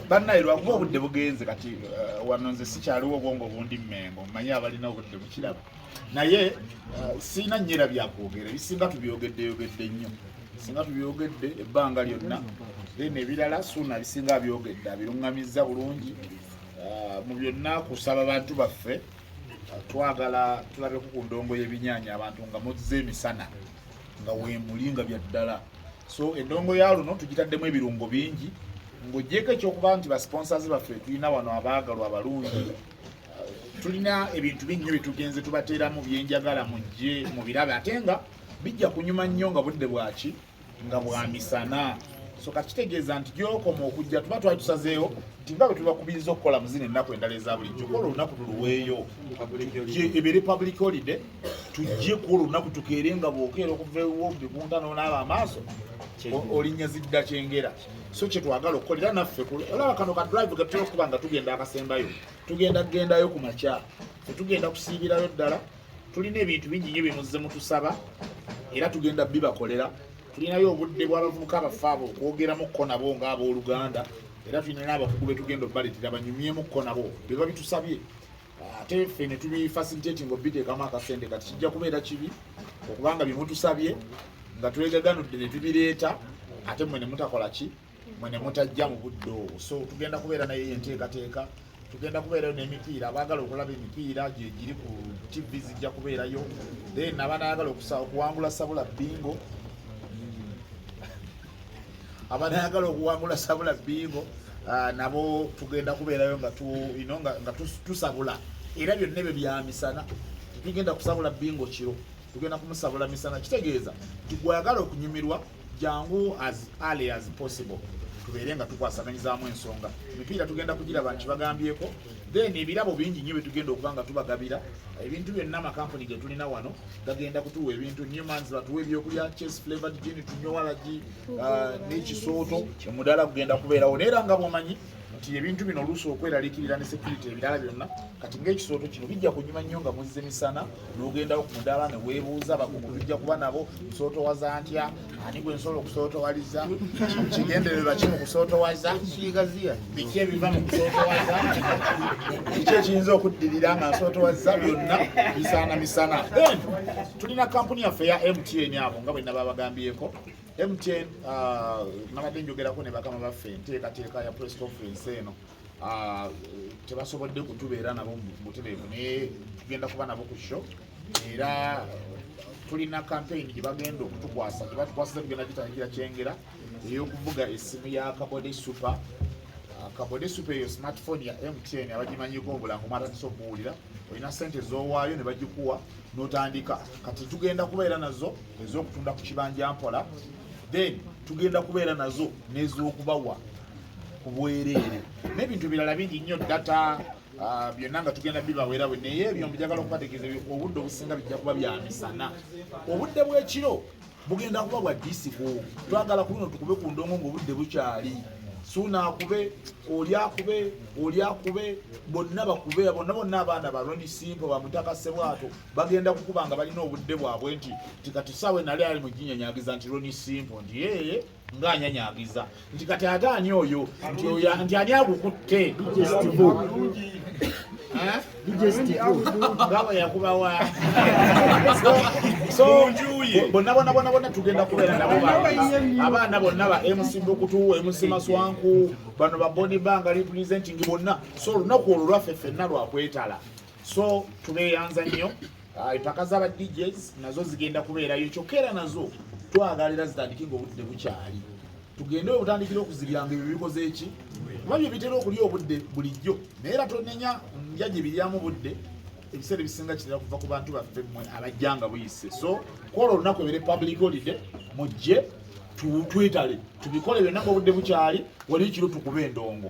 bannaye lwakuba obudde bugenze kati uh, wano nze sikyaliwo obwongo obundi mmengo mmanyi abalina obudde bukiraba naye uh, sirina nyera byakwogera ebisinga tubyogedde yogedde nnyo singa tubyogedde ebbanga lyonna then ebirala suuna bisinga abyogedde abiruŋŋamizza bulungi uh, mu byonna kusaba bantu baffe twagala tulabeko ku ndongo y'ebinyaanya abantu nga muzze emisana nga weemuli nga bya ddala so endongo ya luno tugitaddemu ebirungo bingi ng'ogyeko ekyokuba nti basponsors baffe tulina wano abaagalwa abalungi tulina ebintu binnyo byetugenze tubateeramu byenjagala mujje mu birabe ate nga bijja kunyuma nnyo nga budde bwaki nga bwa misana so kakitegeeza nti gyokoma okujja tuba twali tusazeewo nti nga bwe tubakubiriza okukola mu zino ennaku endala eza bulijjo kuba olunaku tuluweeyo ebeere public holiday tujje ku olunaku tukeere nga bwokeera okuva ewo bibunta nonaaba amaaso olinnya zidda kyengera so kyetwagala okukolera naffe olaba kano ka drive gatera okuba nga tugenda akasembayo tugenda kugendayo ku makya fetugenda kusiibirayo ddala tulina ebintu bingi nyo byemuze mutusaba era tugenda bibakolera tulinayo obudde bw'abavubuka abaffe abo okwogeramu ko nabo nga abooluganda era tulina n'abakugu betugenda obbaleetera banyumyemu ko nabo beba bitusabye ate ffe ne tubifasilitati nga obiteekamu akasente kati kijja kubeera kibi okubanga byemutusabye nga twegaganudde ne tubireeta ate mmwe ne mutakola ki mwe ne mutajja mu budde obwo so tugenda kubeera naye enteekateeka tugenda kubeerayo n'emipiira abaagala okulaba emipiira gye giri ku tv zijja kubeerayo then abanayagala okuwangula sabula bingo hmm. abanayagala okuwangula sabula bingo ah, nabo tugenda kubeerayo nga tusabula era byonna ebyo byamisana tugenda kusabula bingo kiro tugenda kumusabula misana kitegeeza tigwagala okunyumirwa jangu as early as possible tubeere nga tukwasaganyizaamu ensonga emipiira tugenda kugiraba nti bagambyeko then ebirabo bingi nnyo byetugenda okuba nga tubagabira ebintu byonna amakampuni getulina wano gagenda kutuwa ebintu newmans batuwa ebyokulya chase flavored gin tunywa walagi uh, n'ekisooto omudaala gugenda kubeerawo naye era nga bwomanyi nti ebintu bino oluusi okweralikirira ne security ebirala byonna kati ngaekisooto kino bijja kunyuma nnyo nga muzze misana nogendawo ku mudaala ne weebuuza bakugu bijja kuba nabo nsootowaza ntya ani gwe nsobola okusootowaliza kigendererwa ki mu kusootowaza biki ebiva mu kusootowaza kiki ekiyinza okuddirira nga nsootowaza byonna bisaana misana then tulina kampuni yaffe ya mtn abo nga bwe naba bagambyeko mtn uh, nabadde njogerako ne bakama baffe enteekateeka ya press conference eno ah, tebasobodde kutubeera nabo butereevu naye tugenda kuba nabo ku sho era tulina kampeyini gye bagenda okutukwasa gye batukwasiza tugenda gitangira kyengera ey'okuvuga essimu ya kabode supa ah, kabode supa eyo smartphone ya mtn abagimanyiko obulango mwatandisa okuwulira olina sente ezowaayo ne bagikuwa n'otandika kati tugenda kubeera nazo ez'okutunda ku kibanja mpola then tugenda kubeera nazo n'ez'okubawa ku bwereere n'ebintu ebirala bingi nnyo data ah, byonna nga tugenda bibawera bwe naye ebyo mbijagala okubategeeza obudde obusinga bijja kuba bya misana obudde bw'ekiro bugenda kuba bwa disiko twagala ku luno tukube ku ndongo ng'obudde bukyali suuna akube oli akube oli akube bonna bakube bonna bonna abaana baloni simpo bamutaka sebwato bagenda kukuba nga balina obudde bwabwe nti tikatusawe nali ali mu ginyanyagiza nti loni simpo nti yeye nga anyanyagiza nti kati ate ani oyo nti ani agukutte ngabo yakubawa bonna bona bona bona tugenda kubeera nabo abaana bonna ba mc bukutu mc maswanku bano baboni banga representing bonna so olunaku olwo lwaffe ffenna lwakwetala so tubeyanza nnyo ah, empaka zaba djs nazo zigenda kubeerayo kyokka era nazo twagala era zitandike nga obudde bukyali tugende obutandikira okuzibyanga ebyo bikoze eki kuba byo bitera okulya obudde bulijjo naye era tonenya nja gye biryamu budde ebiseera ebisinga kitera kuva ku bantu baffe mwe abajja nga buyise so kwolwo olunaku ebere public holiday mujje twetale tubikole byonna nga obudde bukyali wali kiro tukube endongo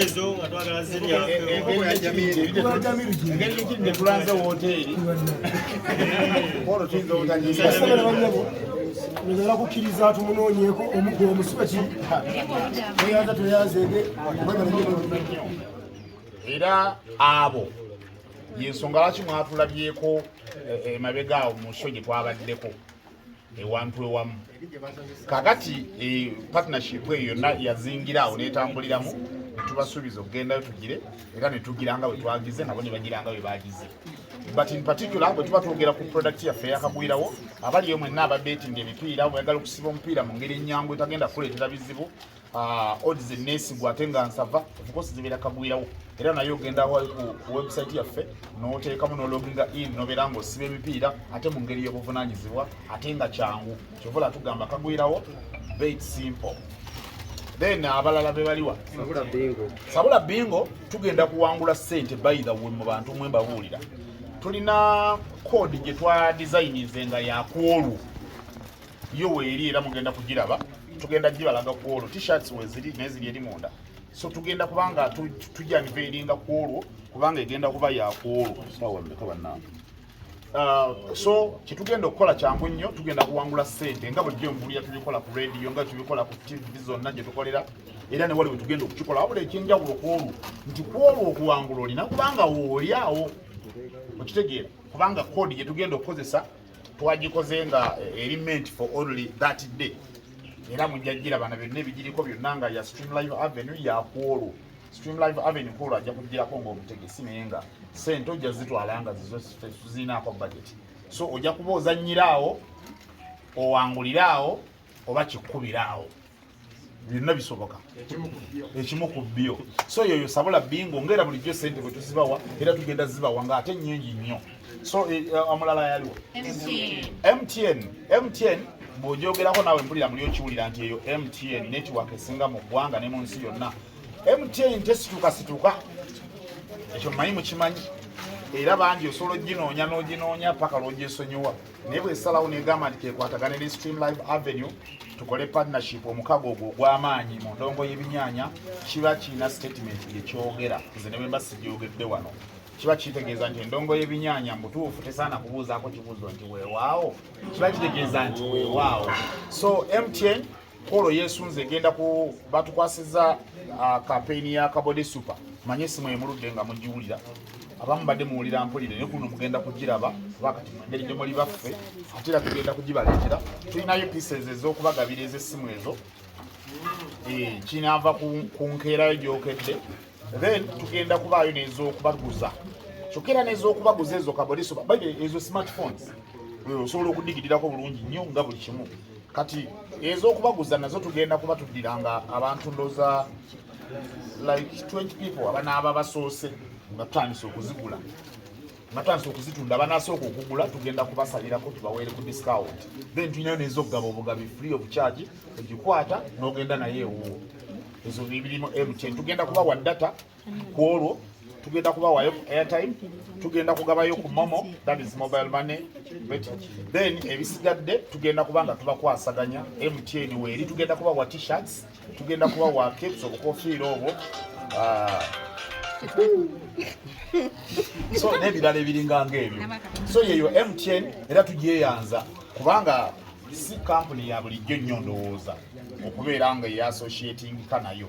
ezo nga twagala ziryaetulanze woteeri olwo tuyinza obutanyiiaala kukkiriza tumunoonyeko omuggo omusibe ki tweyanza tweyanzeege era abo yensonga lwaki mwatulabyeko emabega eh, eh, awo mu nso gye twabaddeko ewantu ewamu kakati eh, partnership eyo yonna yazingira awo netambuliramu netubasuubiza okugendayo tugire era netugira nga bwetwagize nabo nebagira nga bwebagize but in particular bwe tuba twogera ku product yaffe yakagwirawo abaliyo mwenna ababetinga emipiira bweyagala okusiba omupiira mu ngeri ennyangu etagenda kuleetera bizibu Ah, odi zenesigwa ate nga nsava ofcourse zibeera kagwirawo era naye ogenda wali ku website yaffe noteekamu nologinga in nobeera nga osiba emipiira ate mu ngeri y'obuvunanyizibwa ate nga kyangu kyovola tugamba kagwirawo beit simple then abalala bebaliwa sabula bingo tugenda kuwangula sente baitha we mu bantu mwe mbabuulira tulina kodi gye twa designinze nga yakwolwo yo weeri era mugenda kugiraba tugenda gibalaga ku olwo t-shirts weziri neziri eri munda so tugenda kubanga tujaniveringa ku olwo kubanga egenda kuba yakuolwo Uh, so kyetugenda okukola kyangu nnyo tugenda kuwangula sente nga bulijjo envulira tubikola ku radio nga tubikola ku tv zonna gyetukolera era newali wetugenda okukikola wabula ekyenjawulo kwolwo nti kwolwo okuwangula olina kubanga woolyawo okitegeera kubanga kodi gyetugenda okukozesa twagikoze nga eh, eri meant for only that day era mujja girabana byonna ebigiriko byonna nga ya stream live avenue yakwolwo stream live avenue kwolwo ajja kugirako ngaomutegesi naye nga sente ojja zitwala nga zizo tuzirinaako budget so ojja kuba ozannyiraawo owanguliraawo oba kikkubiraawo byonna bisoboka ekimu ku byo so yoyo sabula bingo ngaera bulijjo sente bwe tuzibawa era tugenda zibawa nga ate nyingi nnyo so eh, eh, omulala yaliwo mtn mtn bwogyogerako naawe mpulira muli okiwulira nti eyo mtn network esinga mu ggwanga ne mu nsi yonna mtn tesituukasituuka ekyo mumanyi mukimanyi era bangi osobola oginoonya n'oginoonya paka lwogyesonyiwa naye bwesalawo negamba nti kekwatagane ne stream live avenue tukole partnership omukago ogwo ogw'amaanyi mu ndongo y'ebinyanya kiba kirina statement yekyogera nze ne bwemba sigyogedde wano kiba kitegeeza nti endongo y'ebinyanya mutuufu tesaana kubuuzaako kibuuzo nti weewaawo kiba kitegeeza nti weewaawo so mtn kolo yesunze egenda ku batukwasiza ah, kampeyini ya kabode super manye esimu emuludde nga mugiwulira abamu badde muwulira mpulire naye kuno mugenda kugiraba kuba kati mungeri gye muli baffe ate era tugenda kugibaleetera tulinayo pieces ez'okubagabira ez'essimu ezo eh, kinaava ku nkeerayo gyokedde then tugenda kubaayo n'ez'okubaguza kyokka era n'ez'okubaguza ezo kabode super ezo smartphones eh, osobola okudigirirako bulungi nnyo nga buli kimu kati ez'okubaguza nazo tugenda kuba tuddira nga abantu ndoza like 20 people abanaaba basoose nga tutandise okuzigula nga tutandise okuzitunda abanasooka okugula tugenda kubasalirako tubaweere ku discount then tulinayo neeza okugaba obugabi free of charge ogikwata n'ogenda naye ewuwo ezo bibirimu mtn tugenda kubawa data ku olwo tugenda kubawayo ku airtime tugenda kugabayo ku momo that is mobile money then ebisigadde tugenda kuba nga tubakwasaganya mtn weeri tugenda kubawa t-shirts tugenda kubawa capes obukofiira obwo ah, so n'ebirala ebiringa ngaebyo so yeyo mtn era tugyeyanza kubanga si kampuni ya bulijjo nnyo ndowooza okubeera nga eyassociatingika nayo